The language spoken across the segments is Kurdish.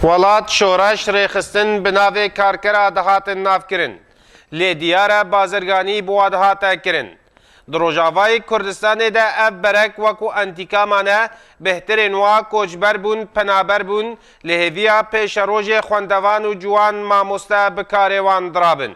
Welat şoreş rêxistin bi navê karkera dihatin navkirin. Lê diyar e bazirganî bi wa dihate kirin. Di Rojavayê Kurdistanê de ev berek wekû entîkama ne, bêhtirên wa koçber bûn, penaber bûn, li hêviya pêşerojê xwendevan û ciwan mamoste bi karê wan dirabin.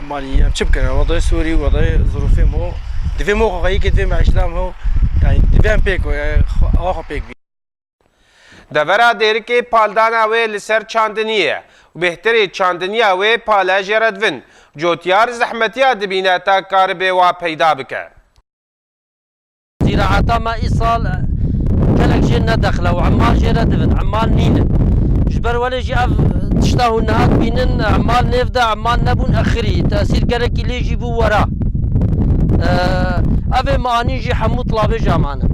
Malî em çi bikin? Welatê Sûrî welatê zirûfê mo divê mo xwe yekê divê meîşeta mo yanî divê em pêk we ava xwe pêk bî. Devera dêrikê paldana wê li ser çandinî ye û bêhtirê çandiniya wê pale jê re divin. Cotyar zehmetiya dibîne ta karibê wa peyda bike. Zîraeta me îsal gelek jê nedexile û emal jê re divin, emal nîn in. Ji ber welê jî ev tişta hûn niha dibînin emal nêv de emal nebûn exirî tesîr gelekî lê jî bû wera. Ev ê min anîn jî hemû tilabêja man in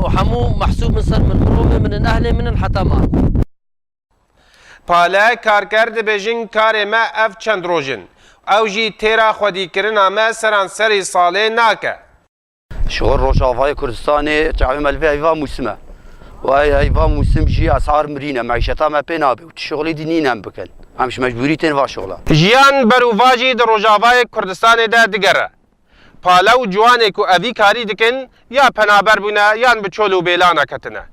û hemû mehsûb in ser min, mirovê min in, ehlê min in heta man. Pale Karker dibêjin karê me ev çend roj in. Ew jî têra xwedîkirina me seranserî salê nake. Ji xwe Rojavayê Kurdistanê çavê me li vê heyva mûsim e. Wa ey heyva mûsim jî esar mirîne, meîşeta me pê nabe û tu şixulî dî nîn em bikin. Em ji mecbûrî tên va şixula. Jiyan ber û va jî di Rojavayê Kurdistanê de digere. Pale û ciwanê ku evî karî dikin ya penaber bûne yan bi çol û bêlana ketine.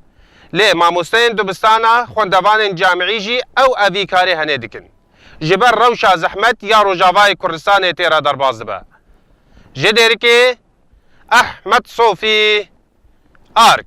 Lê mamosteyên dibistana, xwendevanên camîî jî ew evî karê henê dikin. ji ber rewşa zehmet ya Rojavayê Kurdistanê tê re derbas dibe. Ji Dêrikê, Ehmed Sofî, arg.